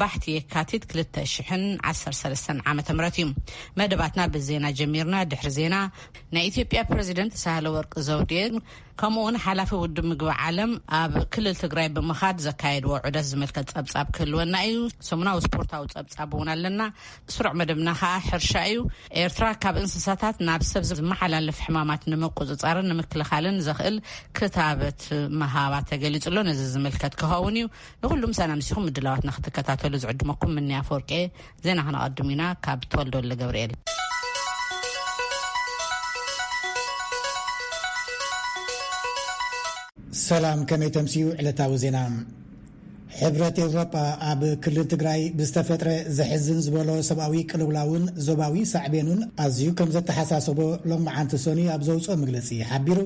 ባሕቲ የካቲት ክልተ ሽሕን ዓሰርተ ሰለስተን ዓመተ ምህረት እዩ። መደባትና ብዜና ጀሚርና። ድሕሪ ዜና ናይ ኢትዮጵያ ፕረዚደንት ሳህለ ወርቅ ዘውዴ ከምኡ እውን ሓላፊ ውድብ ምግቢ ዓለም ኣብ ክልል ትግራይ ብምኻድ ዘካየድዎ ዑደት ዝምልከት ጸብጻብ ክህልወና እዩ። ሰሙናዊ ስፖርታዊ ጸብጻብ እውን ኣለና። ስሩዕ መደብና ከዓ ሕርሻ እዩ። ኤርትራ ካብ እንስሳታት ናብ ሰብ ዝመሓላለፍ ሕማማት ንምቁፅፃርን ንምክልኻልን ዘኽእል ክታበት ምሃባ ተገሊጹ ኣሎ። ነዚ ዝምልከት ክኸውን እዩ። ንኹሉ ምሳና ምሲኹም ምድላዋትና ክትከታተሉ ዝዕድመኩም ምንያ ኣፈወርቄ ዜና ክነቐድም ኢና ካብ ተወልዶ ወልደ ገብርኤል ሰላም ከመይ ተምስኡ ዕለታዊ ዜና ሕብረት ኤውሮጳ ኣብ ክልል ትግራይ ብዝተፈጥረ ዘሕዝን ዝበሎ ሰብኣዊ ቅልውላውን ዞባዊ ሳዕቤኑን ኣዝዩ ከም ዘተሓሳሰቦ ሎም መዓንቲ ሶኒ ኣብ ዘውፅኦ መግለፂ ሓቢሩ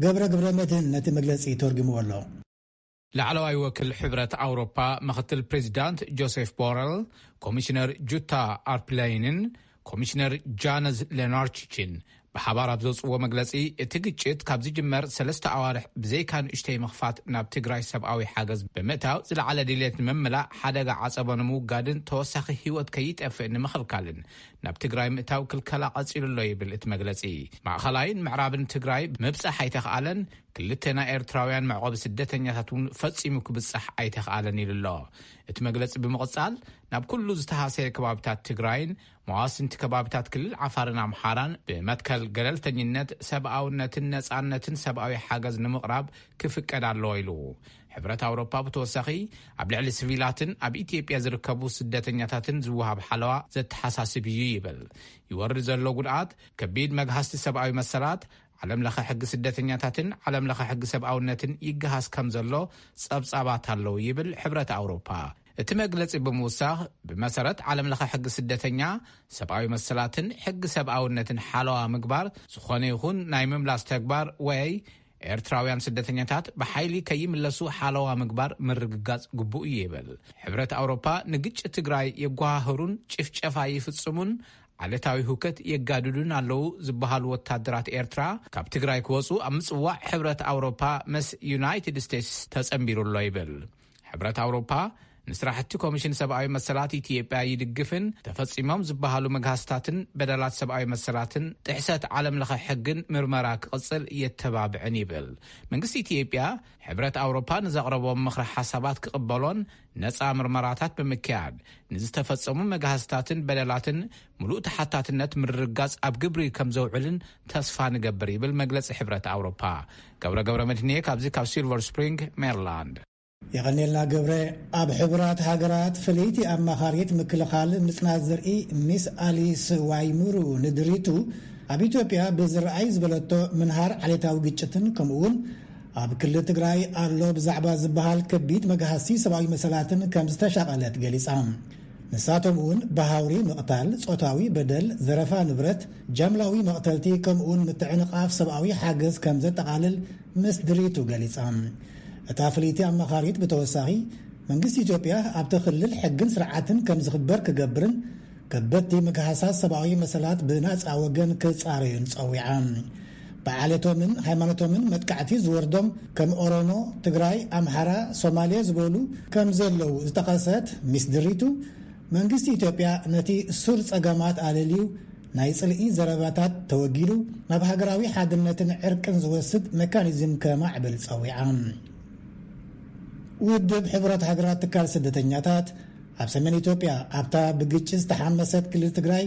ገብረ ግብረ መድህን ነቲ መግለፂ ተርጉምዎ ኣሎ ላዕለዋይ ወክል ሕብረት ኣውሮፓ ምኽትል ፕሬዚዳንት ጆሴፍ ቦረል፣ ኮሚሽነር ጁታ ኣርፕለይንን ኮሚሽነር ጃነዝ ሌናርቺችን ብሓባር ኣብ ዘውፅዎ መግለፂ እቲ ግጭት ካብ ዝጅመር ሰለስተ ኣዋርሕ ብዘይካ ንእሽተይ ምኽፋት ናብ ትግራይ ሰብኣዊ ሓገዝ ብምእታው ዝለዓለ ድሌት ንምምላእ ሓደጋ ዓፀቦ ንምውጋድን ተወሳኺ ህይወት ከይጠፍእ ንምኽልካልን ናብ ትግራይ ምእታው ክልከላ ቀፂሉሎ ይብል እቲ መግለፂ ማእኸላይን ምዕራብን ትግራይ ምብፃሕ ኣይተኽኣለን ክልተ ናይ ኤርትራውያን መዕቆቢ ስደተኛታት እውን ፈጺሙ ክብጻሕ ኣይተኽኣለን ኢሉ ኣሎ። እቲ መግለጺ ብምቕጻል፣ ናብ ኩሉ ዝተሃሰየ ከባቢታት ትግራይን መዋስንቲ ከባቢታት ክልል ዓፋርን ኣምሓራን ብመትከል ገለልተኝነት፣ ሰብኣውነትን ነጻነትን ሰብኣዊ ሓገዝ ንምቕራብ ክፍቀድ ኣለዎ ኢሉ። ሕብረት ኣውሮፓ ብተወሳኺ ኣብ ልዕሊ ስቪላትን ኣብ ኢትዮጵያ ዝርከቡ ስደተኛታትን ዝወሃብ ሓለዋ ዘተሓሳስብ እዩ ይብል። ይወርድ ዘሎ ጉድኣት ከቢድ መግሃስቲ ሰብኣዊ መሰላት፣ ዓለም ለኸ ሕጊ ስደተኛታትን ዓለም ለኸ ሕጊ ሰብኣውነትን ይገሃስ ከም ዘሎ ጸብጻባት ኣለዉ ይብል ሕብረት ኣውሮፓ። እቲ መግለጺ ብምውሳኽ፣ ብመሰረት ዓለም ለኸ ሕጊ ስደተኛ፣ ሰብኣዊ መሰላትን ሕጊ ሰብኣውነትን ሓለዋ ምግባር ዝኾነ ይኹን ናይ ምምላስ ተግባር ወይ ኤርትራውያን ስደተኛታት ብሓይሊ ከይምለሱ ሓለዋ ምግባር ምርግጋጽ ግቡእ እዩ ይብል። ሕብረት ኣውሮፓ ንግጭት ትግራይ የጓሃህሩን ጭፍጨፋ ይፍጽሙን ዓሌታዊ ህውከት የጋድዱን ኣለዉ ዝበሃሉ ወታደራት ኤርትራ ካብ ትግራይ ክወጹ ኣብ ምጽዋዕ ሕብረት ኣውሮፓ መስ ዩናይትድ ስቴትስ ተጸንቢሩ ኣሎ ይብል። ሕብረት ኣውሮፓ ንስራሕቲ ኮሚሽን ሰብኣዊ መሰላት ኢትዮጵያ ይድግፍን ተፈጺሞም ዝበሃሉ መግሃስታትን በደላት ሰብኣዊ መሰላትን ጥሕሰት ዓለም ለኸ ሕግን ምርመራ ክቕጽል የተባብዕን ይብል። መንግስቲ ኢትዮጵያ ሕብረት ኣውሮፓ ንዘቕረቦም ምኽረ ሓሳባት ክቕበሎን ነፃ ምርመራታት ብምክያድ ንዝተፈፀሙ መግሃስታትን በደላትን ሙሉእ ተሓታትነት ምርርጋፅ ኣብ ግብሪ ከምዘውዕልን ተስፋ ንገብር ይብል መግለፂ ሕብረት ኣውሮፓ። ገብረ ገብረመድህን'የ ካብዚ ካብ ሲልቨር ስፕሪንግ ሜሪላንድ። የቐኔልና ገብረ። ኣብ ሕቡራት ሃገራት ፍልይቲ ኣማኻሪት ምክልኻል ምጽናት ዘርኢ ሚስ ኣሊስ ዋይሙሩ ንድሪቱ ኣብ ኢትዮጵያ ብዝረኣይ ዝበለቶ ምንሃር ዓሌታዊ ግጭትን ከምኡ'ውን ኣብ ክልል ትግራይ ኣሎ ብዛዕባ ዝበሃል ከቢድ መግሃስቲ ሰብኣዊ መሰላትን ከም ዝተሻቐለት ገሊጻ። ንሳቶም እውን ብሃውሪ ምቕታል፣ ጾታዊ በደል፣ ዘረፋ ንብረት፣ ጃምላዊ መቕተልቲ ከምኡውን ምትዕንቓፍ ሰብኣዊ ሓገዝ ከም ዘጠቓልል ምስ ድሪቱ ገሊጻ። እታ ፍልይቲ ኣማኻሪት ብተወሳኺ መንግስቲ ኢትዮጵያ ኣብቲ ክልል ሕግን ስርዓትን ከም ዝኽበር ክገብርን ከበድቲ ምግሃሳት ሰብኣዊ መሰላት ብናጻ ወገን ክጻረዩን ጸዊዓ። ብዓሌቶምን ሃይማኖቶምን መጥቃዕቲ ዝወርዶም ከም ኦሮሞ፣ ትግራይ፣ ኣምሓራ፣ ሶማሌ ዝበሉ ከም ዘለዉ ዝጠቐሰት ሚስ ድሪቱ፣ መንግስቲ ኢትዮጵያ ነቲ ሱር ጸገማት ኣለልዩ ናይ ጽልኢ ዘረባታት ተወጊዱ ናብ ሃገራዊ ሓድነትን ዕርቅን ዝወስድ መካኒዝም ከማዕብል ጸዊዓ። ውድብ ሕቡራት ሃገራት ትካል ስደተኛታት ኣብ ሰሜን ኢትዮጵያ ኣብታ ብግጭት ዝተሓመሰት ክልል ትግራይ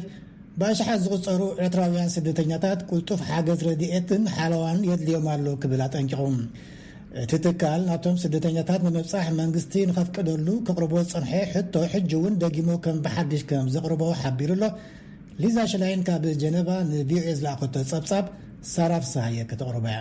ብኣሽሓት ዝቑጸሩ ኤርትራውያን ስደተኛታት ቅልጡፍ ሓገዝ ረድኤትን ሓለዋን የድልዮም ኣሎ ክብል ኣጠንቂቑ። እቲ ትካል ናብቶም ስደተኛታት ንምብጻሕ መንግስቲ ንኸፍቅደሉ ከቕርቦ ዝጸንሐ ሕቶ ሕጂ እውን ደጊሙ ከም ብሓድሽ ከም ዘቕርቦ ሓቢሩ ኣሎ። ሊዛ ሽላይን ካብ ጀነቫ ንቪኦኤ ዝለኣኸቶ ጸብጻብ ሳራ ፍስሃየ ከተቕርቦ እያ።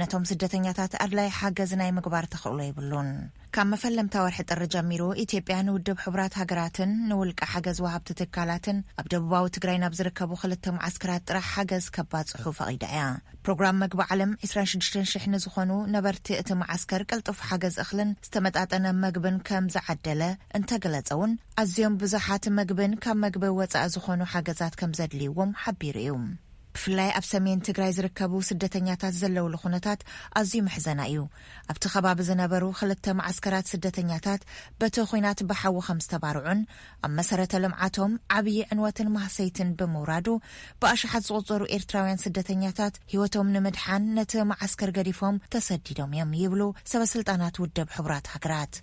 ነቶም ስደተኛታት ኣድላይ ሓገዝ ናይ ምግባር ተኽእሎ የብሉን። ካብ መፈለምታ ወርሒ ጥሪ ጀሚሩ ኢትዮጵያ ንውድብ ሕቡራት ሃገራትን ንውልቀ ሓገዝ ወሃብቲ ትካላትን ኣብ ደቡባዊ ትግራይ ናብ ዝርከቡ ክልተ መዓስከራት ጥራሕ ሓገዝ ከባጽሑ ፈቒዳ እያ። ፕሮግራም መግቢ ዓለም 26,000 ንዝኾኑ ነበርቲ እቲ መዓስከር ቅልጡፍ ሓገዝ እኽልን ዝተመጣጠነ መግብን ከም ዝዓደለ እንተገለጸ እውን ኣዝዮም ብዙሓት መግብን ካብ መግቢ ወጻኢ ዝኾኑ ሓገዛት ከም ዘድልይዎም ሓቢሩ እዩ። ብፍላይ ኣብ ሰሜን ትግራይ ዝርከቡ ስደተኛታት ዘለውሉ ኩነታት ኣዝዩ መሕዘና እዩ። ኣብቲ ከባቢ ዝነበሩ ክልተ መዓስከራት ስደተኛታት በቲ ኹናት ብሓዊ ከም ዝተባርዑን ኣብ መሰረተ ልምዓቶም ዓብዪ ዕንወትን ማህሰይትን ብምውራዱ ብኣሽሓት ዝቑፀሩ ኤርትራውያን ስደተኛታት ህይወቶም ንምድሓን ነቲ መዓስከር ገዲፎም ተሰዲዶም እዮም ይብሉ ሰበስልጣናት ውድብ ሕቡራት ሃገራት።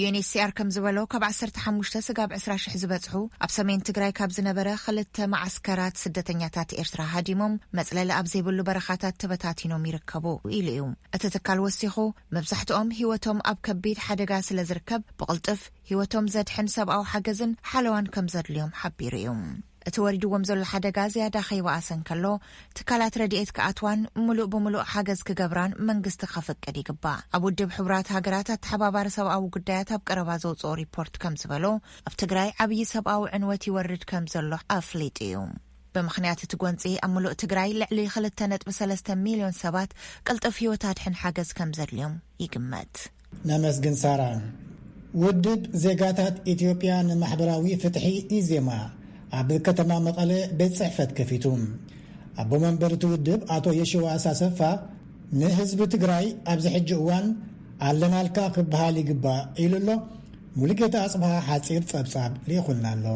ዩኤንኤችሲኣር ከም ዝበሎ ካብ ዓሰርተ ሓሙሽተ ስጋብ ዕስራ ሽሕ ዝበጽሑ ኣብ ሰሜን ትግራይ ካብ ዝነበረ ክልተ መዓስከራት ስደተኛታት ኤርትራ ሃዲሞም መጽለሊ ኣብ ዘይብሉ በረኻታት ተበታቲኖም ይርከቡ ኢሉ እዩ። እቲ ትካል ወሲኹ መብዛሕትኦም ህይወቶም ኣብ ከቢድ ሓደጋ ስለ ዝርከብ ብቕልጡፍ ህይወቶም ዘድሕን ሰብኣዊ ሓገዝን ሓለዋን ከም ዘድልዮም ሓቢሩ እዩ። እቲ ወሪድዎም ዘሎ ሓደጋ ዝያዳ ከይበኣሰ እንከሎ፣ ትካላት ረድኤት ክኣትዋን ምሉእ ብምሉእ ሓገዝ ክገብራን መንግስቲ ከፍቅድ ይግባእ። ኣብ ውድብ ሕቡራት ሃገራት ኣተሓባባሪ ሰብኣዊ ጉዳያት ኣብ ቀረባ ዘውጽኦ ሪፖርት ከም ዝበሎ፣ ኣብ ትግራይ ዓብዪ ሰብኣዊ ዕንወት ይወርድ ከም ዘሎ ኣፍሊጡ እዩ። ብምኽንያት እቲ ጎንጺ፣ ኣብ ምሉእ ትግራይ ልዕሊ ክልተ ነጥቢ ሰለስተ ሚልዮን ሰባት ቅልጡፍ ህይወት ኣድሕን ሓገዝ ከም ዘድልዮም ይግመት። ነመስግን ሳራ። ውድብ ዜጋታት ኢትዮጵያ ንማሕበራዊ ፍትሒ፣ ኢዜማ፣ ኣብ ከተማ መቐለ ቤት ጽሕፈት ከፊቱ። ኣቦ መንበር እቲ ውድብ ኣቶ የሺዋስ ኣሰፋ ንህዝቢ ትግራይ ኣብዚ ሕጂ እዋን ኣለናልካ ክበሃል ይግባእ ኢሉ ኣሎ። ሙሉጌታ ኣጽብሃ ሓጺር ጸብጻብ ልኢኹልና ኣሎ።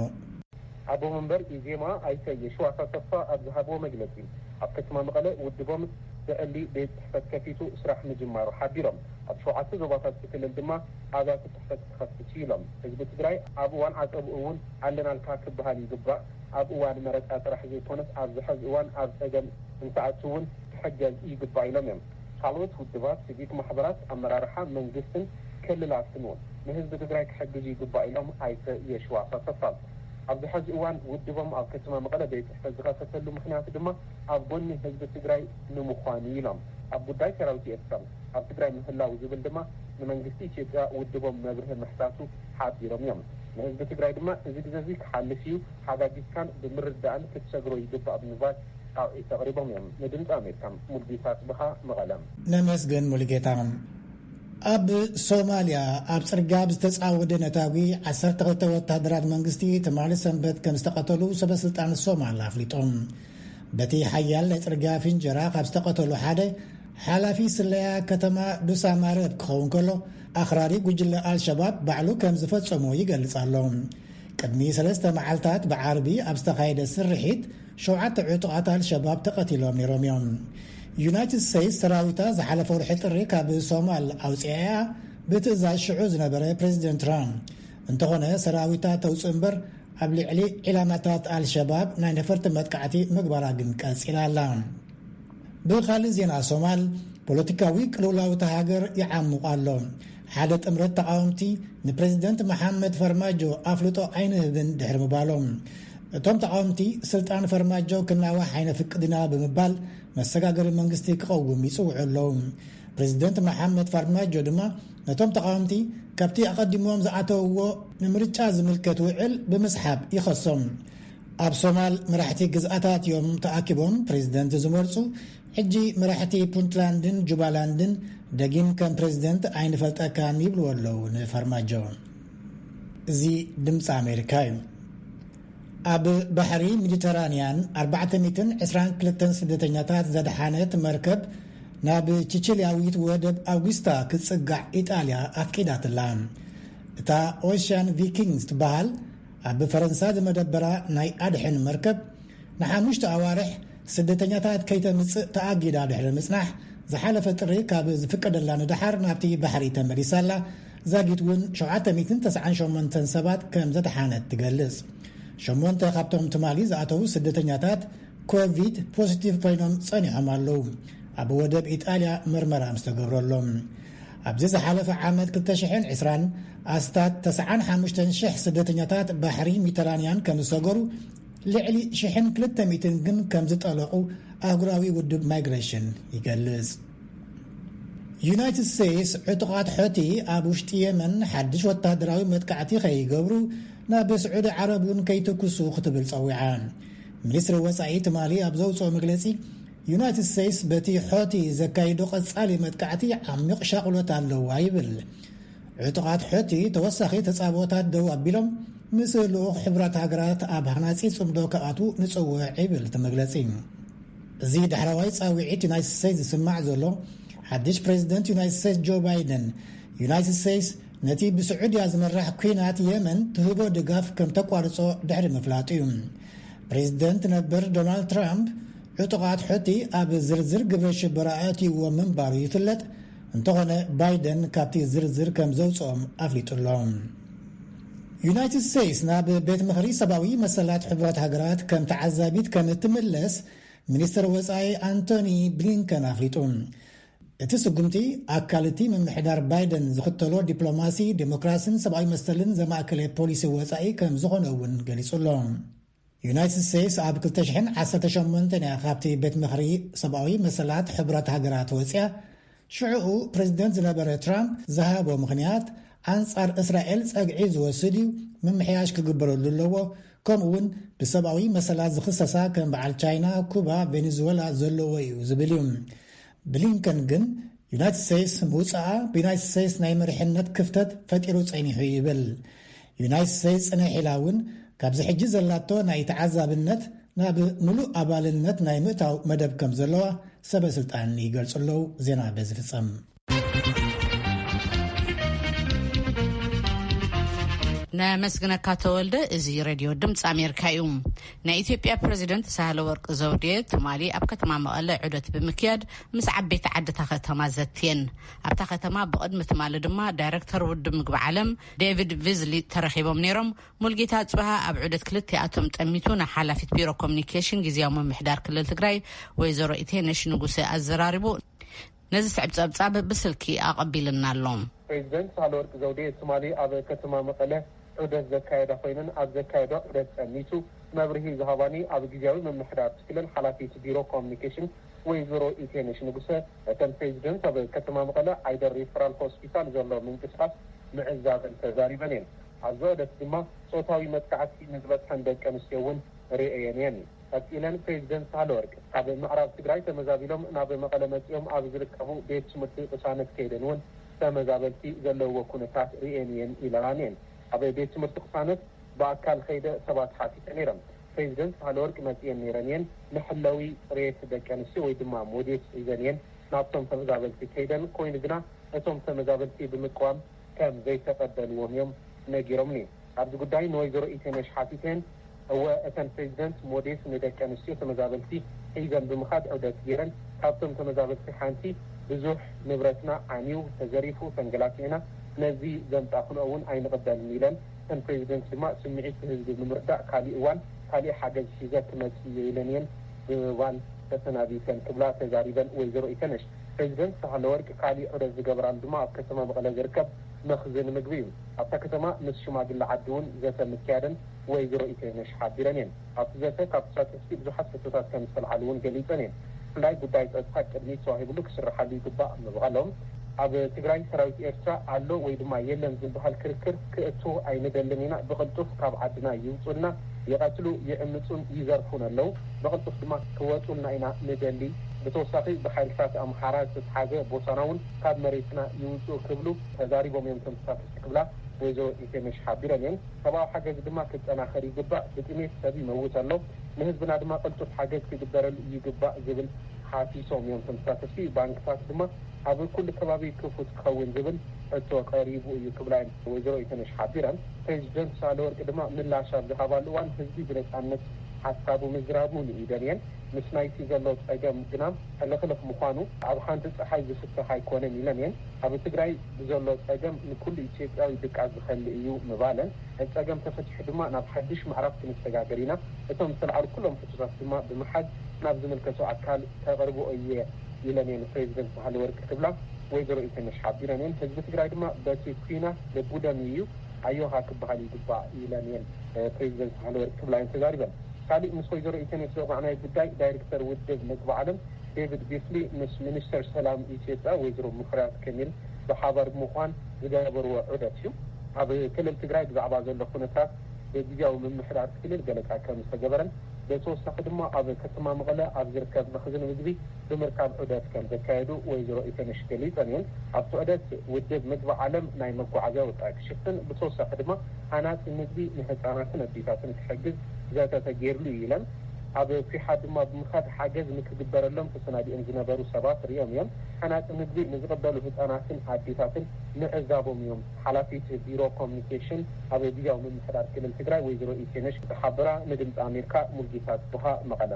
ኣቦ መንበር ኢዜማ ኣይተ የሺዋስ ኣሰፋ ኣብ ዝሃብዎ መግለፂ፣ ኣብ ከተማ መቐለ ውድቦም ብዕሊ ቤት ፅሕፈት ከፊቱ ስራሕ ምጅማሩ ሓቢሮም። ኣብ ሸውዓተ ዞባታት እቲ ክልል ድማ ኣብያተ ፅሕፈት ክኸፍት እዩ ኢሎም። ህዝቢ ትግራይ ኣብ እዋን ዓፀብኡ እውን ኣለናልካ ክበሃል ይግባእ፣ ኣብ እዋን መረፃ ጥራሕ ዘይኮነስ ኣብዚ ሐዚ እዋን ኣብ ፀገም እንትኣቱ እውን ክሕገዝ ይግባእ ኢሎም እዮም። ካልኦት ውድባት፣ ሲቪክ ማሕበራት፣ ኣመራርሓ መንግስትን ክልላትን እውን ንህዝቢ ትግራይ ክሕግዙ ይግባእ ኢሎም ኣይተ የሺዋስ ኣሰፋ። ኣብዚ ሐዚ እዋን ውድቦም ኣብ ከተማ መቐለ ቤት ፅሕፈት ዝኸፈተሉ ምኽንያት ድማ ኣብ ጎኒ ህዝቢ ትግራይ ንምዃን እዩ ኢሎም። ኣብ ጉዳይ ሰራዊት ኤርትራ ኣብ ትግራይ ምህላው ዝብል ድማ ንመንግስቲ ኢትዮጵያ ውድቦም መብርሂ ምሕታቱ ሓቢሮም እዮም። ንህዝቢ ትግራይ ድማ እዚ ግዘ እዚ ክሓልፍ እዩ፣ ተሓጋጊዝካን ብምርዳእን ክትሰግሮ ይግባእ ብምባል ፃውዒት ኣቕሪቦም እዮም። ንድምፂ ኣሜሪካ ሙልጌታ ኣፅብሃ መቐለ። ነመስግን ሙሉጌታ። ኣብ ሶማልያ ኣብ ጽርግያ ብዝተጻወደ ነታጒ ዓሰርተ ክልተ ወተሃደራት መንግስቲ ትማሊ ሰንበት ከም ዝተቐተሉ ሰበስልጣን ሶማል ኣፍሊጦም። በቲ ሓያል ናይ ጽርግያ ፍንጀራ ካብ ዝተቐተሉ ሓደ ሓላፊ ስለያ ከተማ ዱሳማረብ ክኸውን ከሎ ኣኽራሪ ጉጅለ ኣልሸባብ ባዕሉ ከም ዝፈጸሞ ይገልጽ ኣሎ። ቅድሚ ሰለስተ መዓልታት ብዓርቢ ኣብ ዝተኻየደ ስርሒት ሸውዓተ ዕጡቓት ኣልሸባብ ተቐቲሎም ነይሮም እዮም። ዩናይትድ ስቴትስ ሰራዊታ ዝሓለፈ ወርሒ ጥሪ ካብ ሶማል ኣውፅኣ እያ ብትእዛዝ ሽዑ ዝነበረ ፕሬዚደንት ትራምፕ። እንተኾነ ሰራዊታ ተውፅእ እምበር ኣብ ልዕሊ ዒላማታት ኣልሸባብ ናይ ነፈርቲ መጥቃዕቲ ምግባራ ግን ቀፂላ ኣላ። ብኻልእ ዜና ሶማል ፖለቲካዊ ቅልውላውታ ሃገር ይዓሙቕ ኣሎ። ሓደ ጥምረት ተቓወምቲ ንፕረዚደንት መሓመድ ፈርማጆ ኣፍልጦ ኣይንህብን ድሕሪ ምባሎም፣ እቶም ተቓወምቲ ስልጣን ፈርማጆ ክናዋሕ ኣይነፍቅድን ኢና ብምባል መሰጋገሪ መንግስቲ ክቐውም ይጽውዑ ኣለዉ። ፕረዚደንት መሓመድ ፋርማጆ ድማ ነቶም ተቓወምቲ ካብቲ ኣቐዲሞም ዝኣተውዎ ንምርጫ ዝምልከት ውዕል ብምስሓብ ይኸሶም። ኣብ ሶማል መራሕቲ ግዝኣታት እዮም ተኣኪቦም ፕረዚደንት ዝመርጹ፣ ሕጂ መራሕቲ ፑንትላንድን ጁባላንድን ደጊም ከም ፕረዚደንት ኣይንፈልጠካን ይብልዎ ኣለዉ ንፋርማጆ። እዚ ድምጺ ኣሜሪካ እዩ። ኣብ ባሕሪ ሚዲተራንያን ኣርባዕተ ሚእትን ዕስራን ክልተን ስደተኛታት ዘድሓነት መርከብ ናብ ቺቺልያዊት ወደብ ኣውግስታ ክትጽጋዕ ኢጣልያ ኣፍቂዳትላ። እታ ኦሽያን ቪኪንግስ ትበሃል ኣብ ፈረንሳ ዝመደበራ ናይ ኣድሕን መርከብ ንሓሙሽተ ኣዋርሕ ስደተኛታት ከይተምጽእ ተኣጊዳ ድሕሪ ምጽናሕ፣ ዝሓለፈ ጥሪ ካብ ዝፍቀደላ ንደሓር ናብቲ ባሕሪ ተመሊሳ ኣላ። ዛጊት እውን ሸውዓተ ሚእትን ተስዓን ሸሞንተን ሰባት ከም ዘድሓነት ትገልጽ። ሸሞንተ ካብቶም ትማሊ ዝኣተዉ ስደተኛታት ኮቪድ ፖዚቲቭ ኮይኖም ጸኒሖም ኣለዉ፣ ኣብ ወደብ ኢጣልያ መርመራ ምስ ተገብረሎም። ኣብዚ ዝሓለፈ ዓመት ክልተ ሽሕን ዕስራን ኣስታት ተስዓን ሓሙሽተን ሽሕ ስደተኛታት ባሕሪ ሚተራንያን ከም ዝሰገሩ ልዕሊ ሽሕን ክልተ ሚእትን ግን ከምዝጠለቑ ኣህጉራዊ ውድብ ማይግረሽን ይገልጽ። ዩናይትድ ስቴትስ ዕጡቓት ሖቲ ኣብ ውሽጢ የመን ሓድሽ ወተሃደራዊ መጥቃዕቲ ከይገብሩ ናብ ስዑዲ ዓረብ እውን ከይትኩሱ ክትብል ጸዊዓ። ሚኒስትሪ ወጻኢ ትማሊ ኣብ ዘውጽኦ መግለጺ ዩናይትድ ስቴትስ በቲ ሖቲ ዘካይዶ ቀጻሊ መጥቃዕቲ ዓሚቕ ሻቕሎት ኣለዋ ይብል። ዕጡቓት ሑቲ ተወሳኺ ተጻብኦታት ደው ኣቢሎም ምስ ልኡኽ ሕቡራት ሃገራት ኣብ ሃናጺ ጽምዶ ክኣትዉ ንጽውዕ ይብል እቲ መግለጺ። እዚ ዳሕረዋይ ጻውዒት ዩናይትድ ስቴትስ ዝስማዕ ዘሎ፣ ሓድሽ ፕረዚደንት ዩናይትድ ስቴትስ ጆ ባይደን፣ ዩናይትድ ስቴትስ ነቲ ብስዑድያ ዝምራሕ ኲናት የመን ትህቦ ድጋፍ ከም ተቋርጾ ድሕሪ ምፍላጡ እዩ። ፕረዚደንት ነበር ዶናልድ ትራምፕ፣ ዕጡቓት ሑቲ ኣብ ዝርዝር ግብረ ሽበራ ኣእትይዎ ምንባሩ ይፍለጥ፣ እንተኾነ ባይደን ካብቲ ዝርዝር ከም ዘውጽኦም ኣፍሊጡ ኣሎ። ዩናይትድ ስቴትስ ናብ ቤት ምኽሪ ሰብኣዊ መሰላት ሕቡራት ሃገራት ከም ተዓዛቢት ከም እትምለስ ሚኒስትር ወጻኢ ኣንቶኒ ብሊንከን ኣፍሊጡ። እቲ ስጉምቲ ኣካል እቲ ምምሕዳር ባይደን ዝኽተሎ ዲፕሎማሲ፣ ዴሞክራሲን ሰብኣዊ መሰልን ዘማእከለ ፖሊሲ ወጻኢ ከም ዝኾነ እውን ገሊጹ ኣሎ። ዩናይትድ ስቴትስ ኣብ ክልተ ሽሕን ዓሰርተ ሸሞንተን እያ ካብቲ ቤት ምኽሪ ሰብኣዊ መሰላት ሕቡራት ሃገራት ወጽያ። ሽዕኡ ፕረዚደንት ዝነበረ ትራምፕ ዝሃቦ ምኽንያት ኣንጻር እስራኤል ጸግዒ ዝወስድ እዩ፣ ምምሕያሽ ክግበረሉ ኣለዎ፣ ከምኡ'ውን ብሰብኣዊ መሰላት ዝኽሰሳ ከም በዓል ቻይና፣ ኩባ፣ ቬኔዙወላ ዘለዎ እዩ ዝብል እዩ። ብሊንከን ግን ዩናይትድ ስቴትስ ምውጽኣ ብዩናይትድ ስቴትስ ናይ መሪሕነት ክፍተት ፈጢሩ ጸኒሑ ይብል። ዩናይትድ ስቴትስ ጽንሕ ኢላ እውን ካብዚ ሕጂ ዘላቶ ናይ ተዓዛብነት ናብ ምሉእ ኣባልነት ናይ ምእታው መደብ ከም ዘለዋ ሰበ ስልጣን ይገልጹ ኣለዉ። ዜና በዚ ፍጸም። ነመስግነካ ተወልደ እዚ ረድዮ ድምፂ ኣሜሪካ እዩ ናይ ኢትዮጵያ ፕረዚደንት ሳህለወርቅ ዘውዴ ትማሊ ኣብ ከተማ መቐለ ዑደት ብምክያድ ምስ ዓበይቲ ዓድታ ከተማ ዘትየን። ኣብታ ከተማ ብቕድሚ ትማሊ ድማ ዳይረክተር ውድብ ምግቢ ዓለም ዴቪድ ቪዝሊ ተረኺቦም ነይሮም። ሙልጌታ ኣጽብሃ ኣብ ዑደት ክልቲኣቶም ጠሚቱ ንሓላፊት ቢሮ ኮሙኒኬሽን ግዝያዊ ምምሕዳር ክልል ትግራይ ወይዘሮ ኢቴነሽ ንጉሰ ኣዘራሪቡ። ነዝስዕብ ጸብጻብ ብስልኪ ኣቐቢሉና ኣሎ። ፕሬዚደንት ሳህለወርቅ ዘውዴ ትማሊ ኣብ ከተማ መቐለ ዑደት ዘካየዳ ኮይነን ኣብ ዘካየደኦ ዑደት ጠኒሱ መብርሂ ዝሃባኒ ኣብ ግዝያዊ ምምሕዳር እቲ ክልል ሓላፊት ቢሮ ኮሚኒኬሽን ወይዘሮ ኢቴነሽ ንጉሰ እተን ፕሬዚደንት ኣብ ከተማ መቐለ ዓይደር ሪፈራል ሆስፒታል ዘሎ ምንቅስቓስ ምዕዛበን ተዛሪበን እየን። ኣብዚ ዑደት ድማ ፆታዊ መጥቃዕቲ ንዝበፅሐን ደቂ ኣንስትዮ እውን ሪኤየን እየን። ቀጺለን ፕሬዚደንት ሳህለወርቅ ካብ ምዕራብ ትግራይ ተመዛቢሎም ናብ መቐለ መፂኦም ኣብ ዝርከቡ ቤት ትምህርቲ ቅሳነት ከይደን እውን ተመዛበልቲ ዘለውዎ ኩነታት ሪኤን እየን ኢለናን እየን። ኣብ ቤት ትምህርቲ ቅሳነት ብኣካል ኸይደ ሰባት ሓቲተ ነይረን። ፕሬዚደንት ሳህለወርቅ መፂኤን ነይረን እየን መሐለዊ ፅሬት ደቂ ኣንስትዮ ወይ ድማ ሞዴስ ሒዘን እየን ናብቶም ተመዛበልቲ ከይደን ኮይኑ ግና እቶም ተመዛበልቲ ብምቅዋም ከም ዘይተቐበልዎም እዮም ነጊሮምኒ። ኣብዚ ጉዳይ ንወይዘሮ ኢቴነሽ ሓቲተየን፣ እወ እተን ፕሬዚደንት ሞዴስ ንደቂ ኣንስትዮ ተመዛበልቲ ሒዘን ብምኻድ ዑደት ገይረን፣ ካብቶም ተመዛበልቲ ሓንቲ ብዙሕ ንብረትና ዓንዩ፣ ተዘሪፉ፣ ተንገላቲዕና፣ ነዚ ዘምፃእኽንኦ እውን ኣይንቕበልን ኢለን። እተን ፕሬዚደንት ድማ ስምዒት ህዝቢ ብምርዳእ ካሊእ እዋን ካሊእ ሓገዝ ሒዘ ክመፅእ እየ ኢለን እየን ብምባል ተሰናቢተን ክብላ ተዛሪበን ወይዘሮ ኢቴነሽ። ፕረዚደንት ሳህለወርቅ ካሊእ ዑደት ዝገበራሉ ድማ ኣብ ከተማ መቐለ ዝርከብ መኽዝን ምግቢ እዩ። ኣብታ ከተማ ምስ ሽማግለ ዓዲ እውን ዘተ ምክያደን ወይዘሮ ኢተይነሽ ሓቢረን እየን። ኣብቲ ዘተ ካብ ተሳተፍቲ ብዙሓት ሕቶታት ከምዝተልዓሉ እውን ገሊፀን እየን። ብፍላይ ጉዳይ ፀጥታ ቅድሚት ተዋሂብሉ ክስርሓሉ ይግባእ ምባሎም፣ ኣብ ትግራይ ሰራዊት ኤርትራ ኣሎ ወይ ድማ የለን ዝብሃል ክርክር ክእቶ ኣይንደልን ኢና፣ ብቕልጡፍ ካብ ዓድና ይውፁልና፣ ይቐትሉ፣ ይዕምፁን ይዘርፉን ኣለው። ብቕልጡፍ ድማ ክወጹልና ኢና ንደሊ፣ ብተወሳኺ ብሓይልታት ኣምሓራ ዝተትሓዘ ቦታና እውን ካብ መሬትና ይውጽኡ ክብሉ ተዛሪቦም እዮም እቶም ተሳተፍቲ ክብላ ወይዘሮ ኢቴነሽ ሓቢረን እየን። ሰብኣዊ ሓገዝ ድማ ክጠናኸር ይግባእ፣ ብጥሜት ሰብ ይመውት ኣሎ፣ ንህዝብና ድማ ቅልጡፍ ሓገዝ ክግበረሉ ይግባእ ዝብል ሓቲቶም እዮም እቶም ተሳተፍቲ። ባንክታት ድማ ኣብ ኩሉ ከባቢ ክፉት ክኸውን ዝብል ሕቶ ቀሪቡ እዩ ክብላ እየን ወይዘሮ ኢቴነሽ ሓቢረን። ፕሬዚደንት ሳህለወርቅ ድማ ምላሽ ኣብ ዝሃባሉ እዋን ህዝቢ ብነጻነት፣ ሓሳቡ ምዝራቡ ንኢደልየን ምስ ናይቲ ዘሎ ፀገም ግና ሕልኽልኽ ምዃኑ ኣብ ሓንቲ ፀሓይ ዝፍታሕ ኣይኮነን ኢለን እየን። ኣብ ትግራይ ብዘሎ ፀገም ንኩሉ ኢትዮጵያዊ ድቃስ ዝኸልእ እዩ ምባለን እቲ ፀገም ተፈቲሑ ድማ ናብ ሓዱሽ ምዕራፍ ክንሰጋገር ኢና፣ እቶም ዝተልዓሉ ኩሎም ሕቶታት ድማ ብምሓዝ ናብ ዝምልከቶ ኣካል ከቕርቦ እየ ኢለን እየን ፕሬዚደንት ሳህለወርቅ ክብላ ወይዘሮ ኢተነሽ ሓቢረን እየን። ህዝቢ ትግራይ ድማ በቲ ኲናት ልቡ ደምዩ እዩ። ኣዮኻ ክበሃል ይግባእ ኢለን እየን ፕሬዚደንት ሳህለወርቅ ክብላ እየን ተዛሪበን። ካሊእ ምስ ወይዘሮ ኢተንየት ዘውጋዕናዮ ጉዳይ ዳይሬክተር ውድብ ምግቢ ዓለም ዴቪድ ቢስሊ ምስ ሚኒስተር ሰላም ኢትዮጵያ ወይዘሮ ሙፈሪያት ከሚል ብሓባር ብምዃን ዝገበርዎ ዑደት እዩ። ኣብ ክልል ትግራይ ብዛዕባ ዘሎ ኩነታት ብግዝያዊ ምምሕዳር ክልል ገለፃ ከምዝተገበረን ብተወሳኺ ድማ ኣብ ከተማ መቐለ ኣብ ዝርከብ መኽዝን ምግቢ ብምርካብ ዑደት ከም ዘካየዱ ወይዘሮ ኢተነሽ ገሊፀን እየን። ኣብቲ ዑደት ውድብ ምግቢ ዓለም ናይ መጓዓዝያ ወፃኢ ክሽፍን ብተወሳኺ ድማ ሃናፂ ምግቢ ንህፃናትን ኣዴታትን ክሕግዝ ዘተ ተገይርሉ እዩ ኢለን። ኣብ ኩሓ ድማ ብምኻድ ሓገዝ ንክግበረሎም ተሰናዲኦም ዝነበሩ ሰባት ሪኦም እዮም። ሃናፂ ምግቢ ንዝቕበሉ ህፃናትን ኣዴታትን ምዕዛቦም እዮም ሓላፊት ቢሮ ኮሚኒኬሽን ኣብ ግዝያዊ ምምሕዳር ክልል ትግራይ ወይዘሮ ኢቴነሽ ዝሓበራ ንድምፂ ኣሜርካ ሙልጌታ ፅብሃ መቐለ።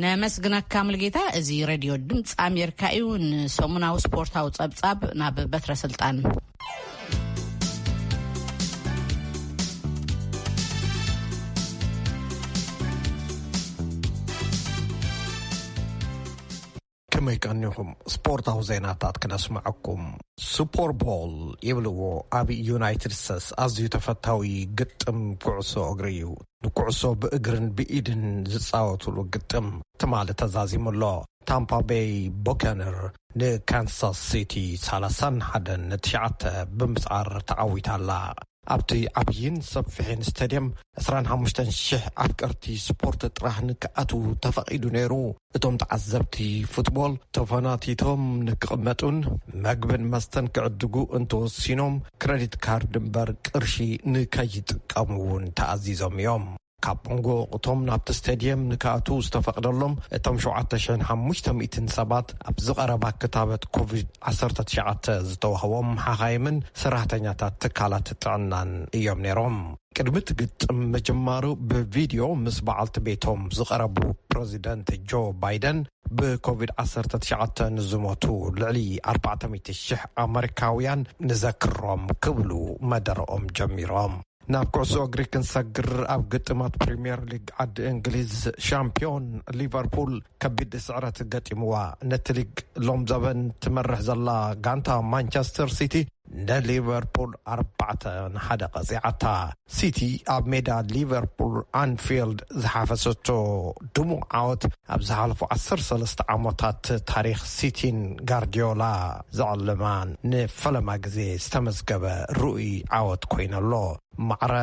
ነመስግነካ ሙልጌታ እዚ ረድዮ ድምፂ ኣሜሪካ እዩ ንሰሙናዊ ስፖርታዊ ፀብፃብ ናብ በትረ ስልጣን ከመይ ቀኒኹም ስፖርታዊ ዜናታት ክነስመዐኩም። ሱፖር ቦል ይብልዎ ኣብ ዩናይትድ ስተስ ኣዝዩ ተፈታዊ ግጥም ኩዕሶ እግሪ እዩ ንኩዕሶ ብእግርን ብኢድን ዝጻወቱሉ ግጥም ትማሊ ተዛዚሙ ኣሎ ታምፓ በይ ቦከንር ንካንሳስ ሲቲ ሰላሳን ሓደን ንትሽዓተ ብምስዓር ተዓዊታ ኣላ ኣብቲ ዓብይን ሰፊሕን ስታድየም ዕስራን ሓሙሽተን ሽሕ ኣፍቀርቲ ስፖርት ጥራሕ ንክኣትዉ ተፈቒዱ ነይሩ። እቶም ተዓዘብቲ ፉትቦል ተፈናቲቶም ንክቕመጡን መግብን መስተን ክዕድጉ እንተወሲኖም ክረዲት ካርድ እምበር ቅርሺ ንከይጥቀሙ እውን ተኣዚዞም እዮም። ካብ መንጎ እቶም ናብቲ ስተድየም ንክኣትው ዝተፈቕደሎም እቶም ሸውዓተ ሽሕን ሓሙሽተ ሚእትን ሰባት ኣብዚ ቐረባ ክታበት ኮቪድ ዓሰርተ ትሽዓተ ዝተዋህቦም ሓኻይምን ሰራሕተኛታት ትካላት ጥዕናን እዮም ነይሮም። ቅድሚ እቲ ግጥም ምጅማሩ ብቪድዮ ምስ በዓልቲ ቤቶም ዝቐረቡ ፕረዚደንት ጆ ባይደን ብኮቪድ ዓሰርተ ትሽዓተ ንዝሞቱ ልዕሊ ኣርባዕተ ሚእቲ ሽሕ ኣመሪካውያን ንዘክሮም ክብሉ መደረኦም ጀሚሮም። ናብ ኩዕሶ እግሪ ክንሰግር ኣብ ግጥማት ፕሪምየር ሊግ ዓዲ እንግሊዝ ሻምፒዮን ሊቨርፑል ከቢድ ስዕረት ገጢምዋ ነቲ ሊግ ሎም ዘበን ትመርሕ ዘላ ጋንታ ማንቸስተር ሲቲ ንሊቨርፑል ኣርባዕተ ንሓደ ቀፂዓታ ሲቲ ኣብ ሜዳ ሊቨርፑል ኣንፊልድ ዝሓፈሰቶ ድሙቕ ዓወት ኣብ ዝሓለፉ ዓሰርተ ሰለስተ ዓመታት ታሪክ ሲቲን ጋርዲዮላ ዝዕለማ ንፈለማ ግዜ ዝተመዝገበ ርኡይ ዓወት ኮይኑ ኣሎ። ማዕረ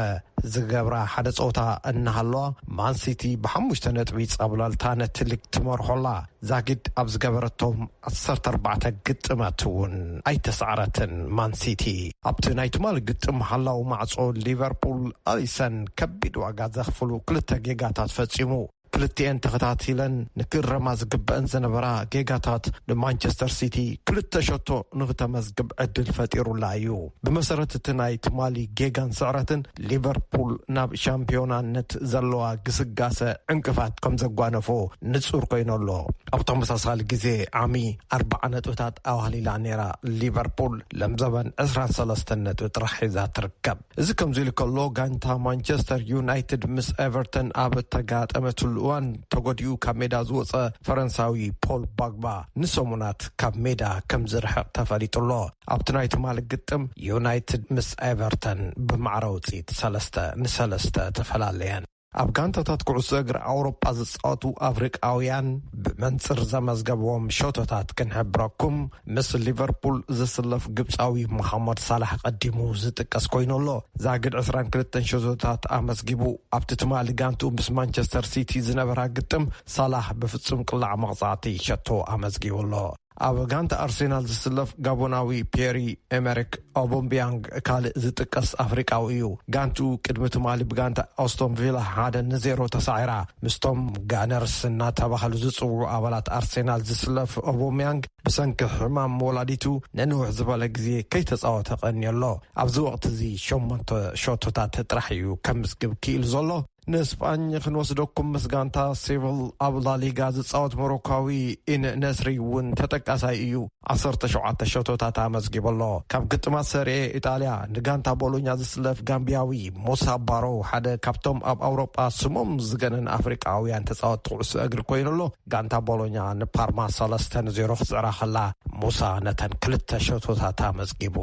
ዝገብራ ሓደ ጸወታ እናሃለዋ ማን ሲቲ ብሓሙሽተ ነጥቢ ጻብላልታ ነቲ ሊግ ትመርሖ ኣላ። ዛጊድ ኣብ ዝገበረቶም ዓሰርተ ኣርባዕተ ግጥማት እውን ኣይተሳዕረትን ማን ሲቲ። ኣብቲ ናይ ትማሊ ግጥም ሓላዊ ማዕጾ ሊቨርፑል ኣሊሰን ከቢድ ዋጋ ዘኽፍሉ ክልተ ጌጋታት ፈጺሙ። ክልቲኤን ተኸታቲለን ንክእረማ ዝግበእን ዝነበራ ጌጋታት ንማንቸስተር ሲቲ ክልተ ሸቶ ንክተመዝግብ ዕድል ፈጢሩላ እዩ። ብመሰረት እቲ ናይ ትማሊ ጌጋን ስዕረትን ሊቨርፑል ናብ ሻምፒዮናነት ዘለዋ ግስጋሰ ዕንቅፋት ከም ዘጓነፎ ንጹር ኮይኑ ኣሎ። ኣብ ተመሳሳሊ ግዜ ዓሚ ኣርብዓ ነጥብታት ኣዋህሊላ ነይራ ሊቨርፑል ለምዘበን ዕስራን ሰለስተን ነጥቢ ጥራሕ ሒዛ ትርከብ። እዚ ከምዚ ኢሉ ከሎ ጋንታ ማንቸስተር ዩናይትድ ምስ ኤቨርተን ኣብ እተጋጠመትሉ እዋን ተጎዲኡ ካብ ሜዳ ዝወፀ ፈረንሳዊ ፖል ባግባ ንሰሙናት ካብ ሜዳ ከም ዝርሕቕ ተፈሊጡ ኣሎ። ኣብቲ ናይ ትማሊ ግጥም ዩናይትድ ምስ ኤቨርተን ብማዕረ ውፅኢት ሰለስተ ንሰለስተ ተፈላለየን። ኣብ ጋንታታት ኩዕሶ እግሪ ኣውሮጳ ዝጻወቱ ኣፍሪቃውያን ብመንጽር ዘመዝገብዎም ሸቶታት ክንሕብረኩም፣ ምስ ሊቨርፑል ዝስለፍ ግብጻዊ ሞሃመድ ሳላሕ ቀዲሙ ዝጥቀስ ኮይኑ ኣሎ። ዛጊድ ዕስራን ክልተን ሸቶታት ኣመዝጊቡ። ኣብቲ ትማሊ ጋንትኡ ምስ ማንቸስተር ሲቲ ዝነበራ ግጥም፣ ሳላሕ ብፍጹም ቅላዕ መቕጻዕቲ ሸቶ ኣመዝጊቡ ኣሎ። ኣብ ጋንታ ኣርሴናል ዝስለፍ ጋቦናዊ ፔሪ ኤመሪክ ኦቦምቢያንግ ካልእ ዝጥቀስ ኣፍሪቃዊ እዩ። ጋንትኡ ቅድሚ ትማሊ ብጋንታ ኣስቶን ቪላ ሓደ ንዜሮ ተሳዒራ። ምስቶም ጋነርስ እናተባህሉ ዝጽውዑ ኣባላት ኣርሴናል ዝስለፍ ኦቦምያንግ ብሰንኪ ሕማም ወላዲቱ ንንውሕ ዝበለ ግዜ ከይተጻወተ ቀንዩ ኣሎ። ኣብዚ ወቕቲ እዚ ሸሞንተ ሸቶታት ጥራሕ እዩ ከምዝግብ ክኢሉ ዘሎ። ንስጳኝ ክንወስደኩም ምስ ጋንታ ሴቭል ኣብ ላሊጋ ዝፃወት ሞሮካዊ ኢን ነስሪ እውን ተጠቃሳይ እዩ ዓሰርተ ሸውዓተ ሸቶታት ኣመዝጊቡ ኣሎ ካብ ግጥማት ሰሪኤ ኢጣልያ ንጋንታ ቦሎኛ ዝስለፍ ጋምቢያዊ ሞሳ ባሮ ሓደ ካብቶም ኣብ ኣውሮጳ ስሞም ዝገነን ኣፍሪቃውያን ተፃወትቲ ኩዕሶ እግሪ ኮይኑ ኣሎ ጋንታ ቦሎኛ ንፓርማ ሰለስተ ን ዜሮ ክትጽዕራ ከላ፣ ሙሳ ነተን ክልተ ሸቶታት ኣመዝጊቡ።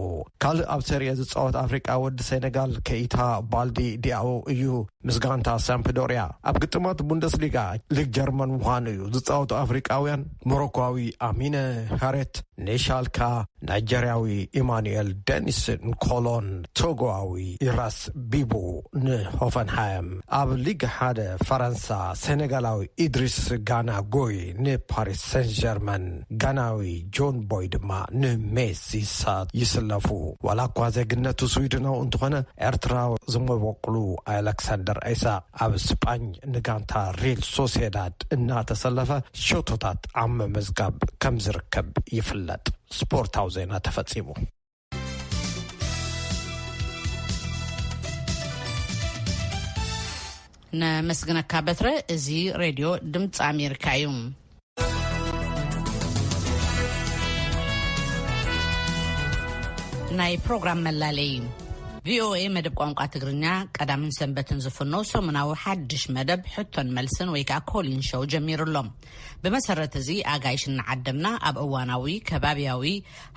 ካልእ ኣብ ሰሪኤ ዝጻወት ኣፍሪቃዊ ወዲ ሴነጋል ከይታ ባልዲ ዲያኦ እዩ። ምስ ጋንታ ሳምፕዶርያ ኣብ ግጥማት ቡንደስሊጋ ሊግ ጀርመን ምዃኑ እዩ። ዝጻወቱ ኣፍሪቃውያን፣ ሞሮኮዊ ኣሚነ ሃሬት፣ ኒሻልካ ናይጀርያዊ ኢማኑኤል ደኒስ ንኮሎን ቶጎኣዊ ኢራስ ቢቡ ንሆፈንሃይም፣ ኣብ ሊግ ሓደ ፈረንሳ ሴነጋላዊ ኢድሪስ ጋና ጎይ ንፓሪስ ሰንጀርመን፣ ጋናዊ ጆን ቦይ ድማ ንሜስ ይሳት ይስለፉ። ዋላኳ ዜግነቱ ስዊድናዊ እንተኾነ ኤርትራዊ ዝመበቁሉ ኣለክሳንደር ኢሳቕ፣ ኣብ ስጳኝ ንጋንታ ሪል ሶሴዳድ እናተሰለፈ ሸቶታት ኣብ ምምዝጋብ ከምዝርከብ ይፍለጥ። ስፖርታዊ ዜና ተፈጺሙ። ነመስግነካ በትረ እዚ ሬድዮ ድምፂ ኣሜሪካ እዩ። ናይ ፕሮግራም መላለይ ቪኦኤ መደብ ቋንቋ ትግርኛ ቀዳምን ሰንበትን ዝፍኖ ሰሙናዊ ሓድሽ መደብ ሕቶን መልስን ወይ ከዓ ኮሊን ሸው ጀሚሩ ኣሎ ብመሰረት እዚ ኣጋይሽ እናዓደምና ኣብ እዋናዊ ከባቢያዊ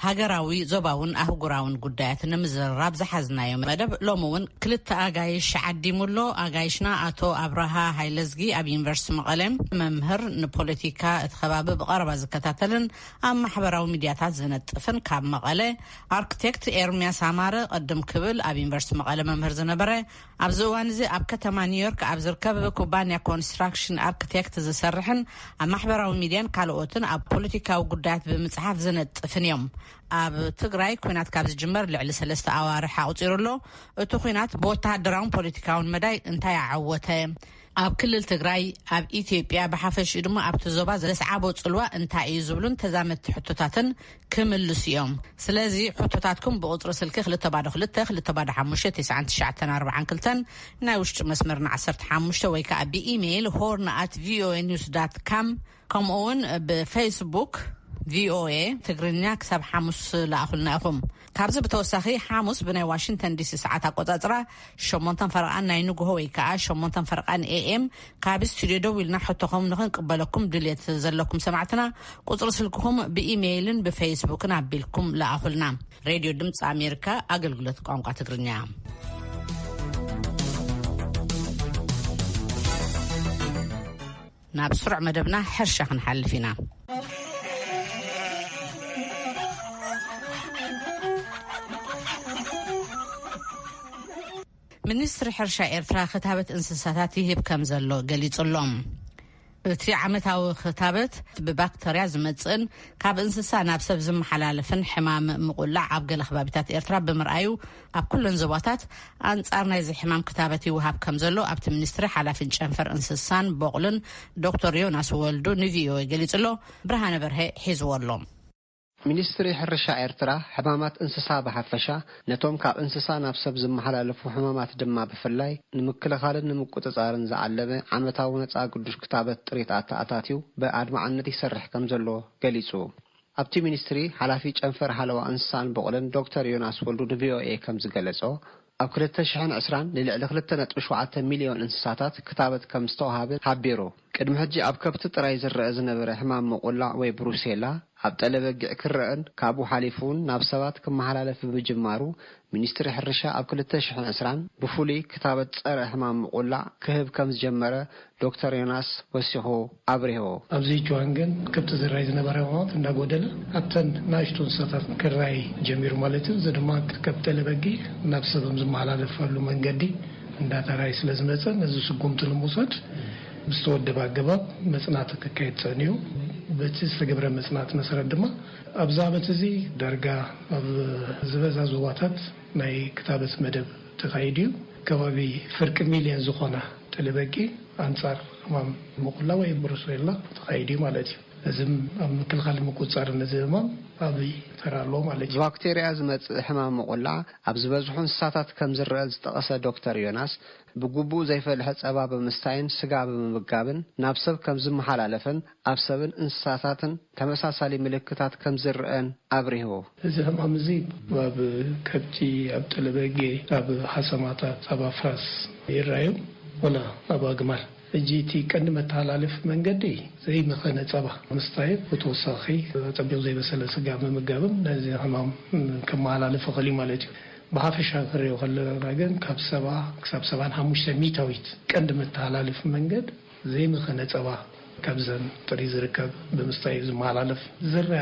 ሃገራዊ፣ ዞባውን ኣህጉራውን ጉዳያት ንምዝርራብ ዝሓዝናዮ መደብ ሎሚ እውን ክልተ ኣጋይሽ ዓዲሙ ኣሎ። ኣጋይሽና ኣቶ ኣብርሃ ሃይለዝጊ ኣብ ዩኒቨርስቲ መቐለ መምህር፣ ንፖለቲካ እቲ ከባቢ ብቐረባ ዝከታተልን ኣብ ማሕበራዊ ሚድያታት ዝነጥፍን ካብ መቐለ፣ ኣርክቴክት ኤርምያስ ኣማረ ቅድም ክብል ኣብ ዩኒቨርስቲ መቐለ መምህር ዝነበረ፣ ኣብዚ እዋን እዚ ኣብ ከተማ ኒውዮርክ ኣብ ዝርከብ ኩባንያ ኮንስትራክሽን ኣርክቴክት ዝሰርሕን ኣብ ማሕበራዊ ሚድያን ካልኦትን ኣብ ፖለቲካዊ ጉዳያት ብምፅሓፍ ዝነጥፍን እዮም። ኣብ ትግራይ ኩናት ካብ ዝጅመር ልዕሊ ሰለስተ ኣዋርሕ ኣቑፂሩ ኣሎ። እቲ ኩናት ብወተሃደራውን ፖለቲካውን መዳይ እንታይ ኣዐወተ? ኣብ ክልል ትግራይ፣ ኣብ ኢትዮጵያ ብሓፈሽኡ ድማ ኣብቲ ዞባ ዘስዓቦ ጽልዋ እንታይ እዩ ዝብሉን ተዛመድቲ ሕቶታትን ክምልሱ እዮም። ስለዚ ሕቶታትኩም ብቑጽሪ ስልኪ ክልተ ባዶ ክልተ፣ ክልተ ባዶ ሓሙሽተ፣ ተስዓን ትሽዓተን ኣርብዓን ክልተን ናይ ውሽጢ መስመርና ዓሰርተ ሓሙሽተ ወይ ከኣ ብኢመይል ሆርን ኣት ቪኦኤ ኒውስ ዳት ካም ከምኡ ውን ብፈይስቡክ ቪኦኤ ትግርኛ ክሳብ ሓሙስ ለኣኹልና ኢኹም። ካብዚ ብተወሳኺ ሓሙስ ብናይ ዋሽንግተን ዲሲ ሰዓት ኣቆፃፅራ ሸሞንተን ፈረቓን ናይ ንግሆ ወይ ከዓ ሸሞንተን ፈረቓን ኤኤም ካብ ስቱድዮ ደው ኢልና ሕቶኹም ንኽንቅበለኩም ድልየት ዘለኩም ሰማዕትና ቁፅሪ ስልክኹም ብኢሜይልን ብፌስቡክን ኣቢልኩም ለኣኹልና። ሬድዮ ድምፂ ኣሜሪካ ኣገልግሎት ቋንቋ ትግርኛ ናብ ስሩዕ መደብና ሕርሻ ክንሓልፍ ኢና። ሚኒስትሪ ሕርሻ ኤርትራ ክታበት እንስሳታት ይህብ ከም ዘሎ ገሊጹ ኣሎ። እቲ ዓመታዊ ክታበት ብባክተርያ ዝመጽእን ካብ እንስሳ ናብ ሰብ ዝመሓላለፍን ሕማም ምቑላዕ ኣብ ገለ ከባቢታት ኤርትራ ብምርኣዩ ኣብ ኩለን ዞባታት ኣንጻር ናይዚ ሕማም ክታበት ይወሃብ ከም ዘሎ ኣብቲ ሚኒስትሪ ሓላፊን ጨንፈር እንስሳን ቦቕልን ዶክተር ዮናስ ወልዱ ንቪኦኤ ገሊጹ ኣሎ። ብርሃነ በርሀ ሒዝዎ ኣሎ። ሚኒስትሪ ሕርሻ ኤርትራ፣ ሕማማት እንስሳ ብሓፈሻ፣ ነቶም ካብ እንስሳ ናብ ሰብ ዝመሓላለፉ ሕማማት ድማ ብፍላይ፣ ንምክልኻልን ንምቁጽጻርን ዝዓለመ ዓመታዊ ነጻ ግዱሽ ክታበት ጥሪት ኣተኣታትዩ ብኣድማዕነት ይሰርሕ ከም ዘሎ ገሊጹ። ኣብቲ ሚኒስትሪ ሓላፊ ጨንፈር ሓለዋ እንስሳን ብቑልን ዶክተር ዮናስ ወልዱ ንቪኦኤ ከምዝገለፆ፣ ኣብ ክልተ ሽሕን ዕስራን ንልዕሊ ክልተ ነጥቢ ሸውዓተ ሚሊዮን እንስሳታት ክታበት ከምዝተውሃበ ሓቢሩ። ቅድሚ ሕጂ ኣብ ከብቲ ጥራይ ዝረኣ ዝነበረ ሕማም ምቑላዕ ወይ ብሩሴላ ኣብ ጠለ በጊዕ ክረኣን ካብኡ ሓሊፉ'ውን ናብ ሰባት ክመሓላለፍ ብምጅማሩ ሚኒስትሪ ሕርሻ ኣብ ክልተ ሽሕን ዕስራን ብፍሉይ ክታበት ፀረ ሕማም ምቑላዕ ክህብ ከም ዝጀመረ ዶክተር ዮናስ ወሲኹ ኣብሪሁ። ኣብዚ እዋን ግን ከብቲ ዝራይ ዝነበረ ኣእዋማት እናጎደለ ኣብተን ናእሽቱ እንስሳታት ክራይ ጀሚሩ ማለት እዩ። እዚ ድማ ካብ ጤለ በጊዕ ናብ ሰብ ኣብ ዝመሓላለፈሉ መንገዲ እንዳተራየ ስለ ዝመፀ ነዚ ስጉምቲ ንምውሳድ ብዝተወደበ ኣገባብ መፅናዕቲ ክካየድ ፀኒሑ። በቲ ዝተገብረ መፅናዕቲ መሰረት ድማ፣ ኣብዚ ዓመት እዚ ዳርጋ ኣብ ዝበዛ ዞባታት ናይ ክታበት መደብ ተኻይዱ እዩ። ከባቢ ፍርቂ ሚልዮን ዝኾና ጤለበጊ ኣንጻር ሕማም ሙቁላ ወይ ብሩሴላ ተኻይዱ እዩ ማለት እዩ። እዚ ኣብ ምክልኻልን ምቁጽጻርን እዚ ሕማም ዓብይ ተራ ኣለዎ ማለት እዩ። ብባክቴርያ ዝመጽእ ሕማም ሙቁላ ኣብ ዝበዝሑ እንስሳታት ከም ዝረኣ ዝጠቐሰ ዶክተር ዮናስ፣ ብግቡእ ዘይፈልሐ ጸባ ብምስታይን ስጋ ብምምጋብን ናብ ሰብ ከም ዝመሓላለፍን ኣብ ሰብን እንስሳታትን ተመሳሳሊ ምልክታት ከም ዝርኣን ኣብሪሁ። እዚ ሕማም እዚ ኣብ ከብቲ፣ ኣብ ጠለበጊ፣ ኣብ ሓሰማታት፣ ኣብ ኣፍራስ ይርኣዩ ወላ ኣብ ኣግማል። ሕጂ እቲ ቀንዲ መተሓላለፊ መንገዲ ዘይመኸነ ጸባ ምስታይን ብተወሳኺ ኣጸቢቑ ዘይበሰለ ስጋ ምምጋብን ነዚ ሕማም ከመሓላልፍ ይኽእል እዩ ማለት እዩ። ብሓፈሻ ክንሪኦ ከለና ግን ካብ ሰባ ክሳብ ሰብዓን ሓሙሽተ ሚታዊት ቀንዲ መተሓላለፊ መንገድ ዘይመኸነ ጸባ ካብዘን ጥሪት ዝርከብ ብምስታይ እዩ ዝመሃላለፍ። ዝርኣ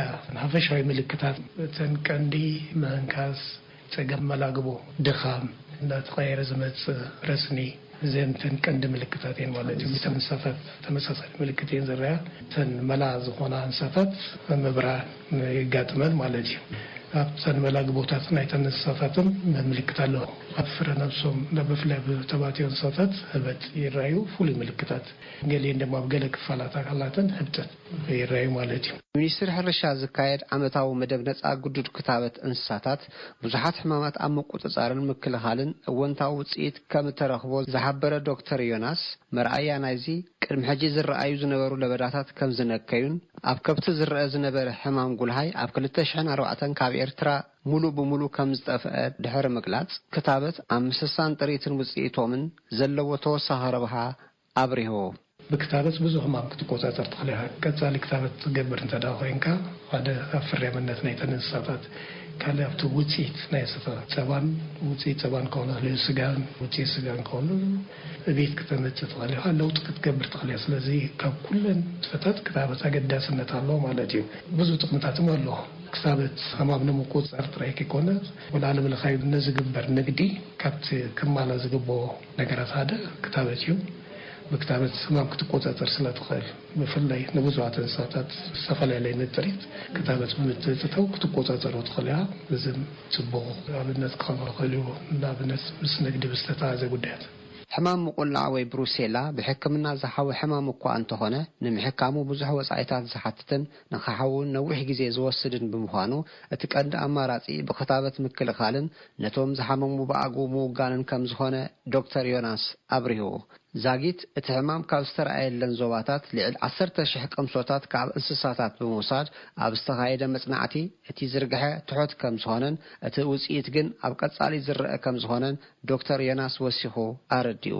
ሓፈሻዊ ምልክታት እተን ቀንዲ ምህንካስ፣ ጸገም መላግቦ፣ ድኻም፣ እናተቐያየረ ዝመጽእ ረስኒ፣ እዘን እተን ቀንዲ ምልክታት እየን ማለት እዩ። ምስተን እንሰፈፍ ተመሳሳሊ ምልክት እየን ዝርኣ። እተን መላ ዝኾና እንሰፈፍ ምብራን። የጋጥመን ማለት እዩ። ኣብተን መላግቦታት ናይተን እንስሳታትን ምልክት ኣሎ። ኣብ ፍረ ነብሶም ብፍላይ ኣብ ተባትዮ እንስሳታት ህበጥ ይረኣዩ ፍሉይ ምልክታት። ገሊኤን ድማ ኣብ ገለ ክፋላት ኣካላተን ህብጠት ይረኣዩ ማለት እዩ። ብሚኒስትሪ ሕርሻ ዝካየድ ዓመታዊ መደብ ነፃ ግዱድ ክታበት እንስሳታት፣ ብዙሓት ሕማማት ኣብ ምቁጽጻርን ምክልኻልን እወንታዊ ውጽኢት ከም እተረኽቦ ዝሓበረ ዶክተር ዮናስ፣ መርኣያ ናይዚ፣ ቅድሚ ሕጂ ዝረኣዩ ዝነበሩ ለበዳታት ከም ዝነከዩን፣ ኣብ ከብቲ ዝረኣ ዝነበረ ሕማም ጉልሃይ ኣብ ክልተ ሽሕን ኣርባዕተን ካብ ኤርትራ ምሉእ ብምሉእ ከም ዝጠፍኣ ድሕሪ ምግላጽ፣ ክታበት ኣብ ምስሳን ጥሪትን ውጽኢቶምን ዘለዎ ተወሳኺ ረብሓ ኣብሪሁ። ብክታበት ብዙ ሕማም ክትቆጻጸር ትኽእል ኢኻ። ቀጻሊ ክታበት ትገብር እንተድኣ ኮይንካ፣ ሓደ ኣብ ፍርያምነት ናይተን እንስሳታት፣ ካልእ ኣብቲ ውጽኢት ናይ እንስሳታት ጸባን፣ ውጽኢት ጸባን ክኸውን ይኽእል እዩ፣ ስጋን ውጽኢት ስጋን ክኸውን ይኽእል እዩ፣ ዕብየት ክተመጽእ ትኽእል ኢኻ፣ ለውጢ ክትገብር ትኽእል ኢኻ። ስለዚ ካብ ኩለን ንጥፈታት ክታበት ኣገዳስነት ኣለዎ ማለት እዩ። ብዙ ጥቕምታት እውን ኣለዎ። ክታበት ሕማም ንምቁጽጻር ጥራይ ከይኮነ፣ ብዓለምለኻዊ ንዝግበር ንግዲ ካብቲ ክማላእ ዝግብኦ፣ ነገራት ሓደ ክታበት እዩ። ብክታበት ሕማም ክትቆጻጸር ስለ ትኽእል፣ ብፍላይ ንብዙሃት እንስሳታት ዝተፈላለየ ንጥሪት ክታበት ብምትእትታው ክትቆጻጸሮ ትኽእል ኢኻ። እዚ ጽቡቕ ኣብነት ክኸውን ይኽእል እዩ፣ ንኣብነት ምስ ንግዲ ብዝተተሓሓዘ ጉዳያት። ሕማም ምቑላዕ ወይ ብሩሴላ ብሕክምና ዝሓዊ ሕማም እኳ እንተኾነ፣ ንምሕካሙ ብዙሕ ወጻኢታት ዝሓትትን ንክሓውን ነዊሕ ግዜ ዝወስድን ብምዃኑ እቲ ቀንዲ ኣማራጺ ብክታበት ምክልኻልን ነቶም ዝሓመሙ ብኣግኡ ምውጋንን ከምዝኾነ ዶክተር ዮናስ ኣብሪሁ። ዛጊት እቲ ሕማም ካብ ዝተርኣየለን ዞባታት ልዕል ዓሰርተ ሽሕ ቅምሶታት ካብ እንስሳታት ብምውሳድ ኣብ ዝተኻየደ መጽናዕቲ እቲ ዝርግሐ ትሑት ከምዝኾነን እቲ ውጽኢት ግን ኣብ ቀጻሊ ዝረኣ ከምዝኾነን ዶክተር ዮናስ ወሲኹ ኣረዲኡ።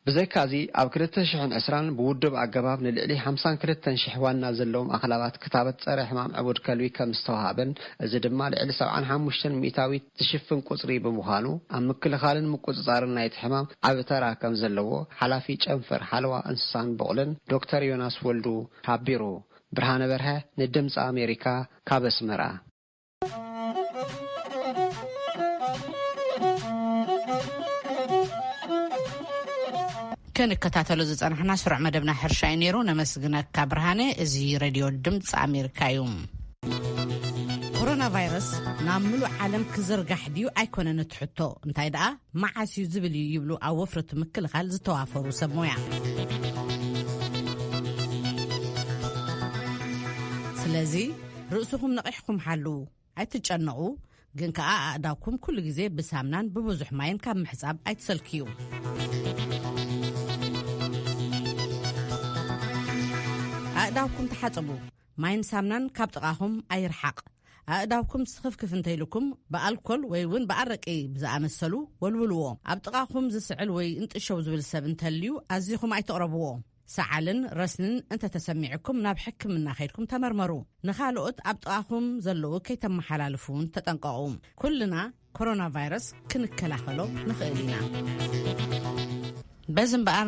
ብዘይካ'ዚ ኣብ ክልተ ሽሕን ዕስራን ብውዱብ ኣገባብ ንልዕሊ ሓምሳን ክልተን ሽሕ ዋና ዘለዎም ኣኽላባት ክታበት ጸረ ሕማም ዕቡድ ከልቢ ከም ዝተዋህበን እዚ ድማ ልዕሊ ሰብዓን ሓሙሽተን ሚእታዊት ዝሽፍን ቁጽሪ ብምዃኑ ኣብ ምክልኻልን ምቁጽጻርን ናይቲ ሕማም ዓቢ ተራ ከም ዘለዎ ሓላፊ ጨንፈር ሓለዋ እንስሳን ቡቕልን ዶክተር ዮናስ ወልዱ ሓቢሩ። ብርሃነ በርሀ ንድምጺ ኣሜሪካ ካብ ኣስመራ። ክንከታተሎ ዝፀናሕና ስሩዕ መደብና ሕርሻ እዩ ነይሩ ነመስግነካ ብርሃነ እዚ ረድዮ ድምፂ ኣሜሪካ እዩ ኮሮና ቫይረስ ናብ ምሉእ ዓለም ክዝርጋሕ ድዩ ኣይኮነን እትሕቶ እንታይ ደኣ መዓስ እዩ ዝብል እዩ ይብሉ ኣብ ወፍረቱ ምክልኻል ዝተዋፈሩ ሰብ ሞያ ስለዚ ርእስኹም ነቒሕኩም ሓልዉ ኣይትጨነቑ ግን ከኣ ኣእዳውኩም ኩሉ ግዜ ብሳምናን ብብዙሕ ማይን ካብ ምሕጻብ ኣይትሰልክዩ ኣእዳውኩም ተሓጽቡ ማይን ሳምናን ካብ ጥቓኹም ኣይርሓቕ። ኣእዳውኩም ስኽፍክፍ እንተይልኩም ብኣልኮል ወይ እውን ብኣረቂ ብዝኣመሰሉ ወልውልዎ። ኣብ ጥቓኹም ዝስዕል ወይ እንጥሸው ዝብል ሰብ እንተልዩ ኣዚኹም ኣይትቕረብዎ። ሰዓልን ረስንን እንተተሰሚዑኩም ናብ ሕክምና ከይድኩም ተመርመሩ። ንኻልኦት ኣብ ጥቓኹም ዘለዉ ከይተመሓላልፉ እውን ተጠንቀቑ። ኩልና ኮሮና ቫይረስ ክንከላኸሎ ንኽእል ኢና በዚ እምበኣር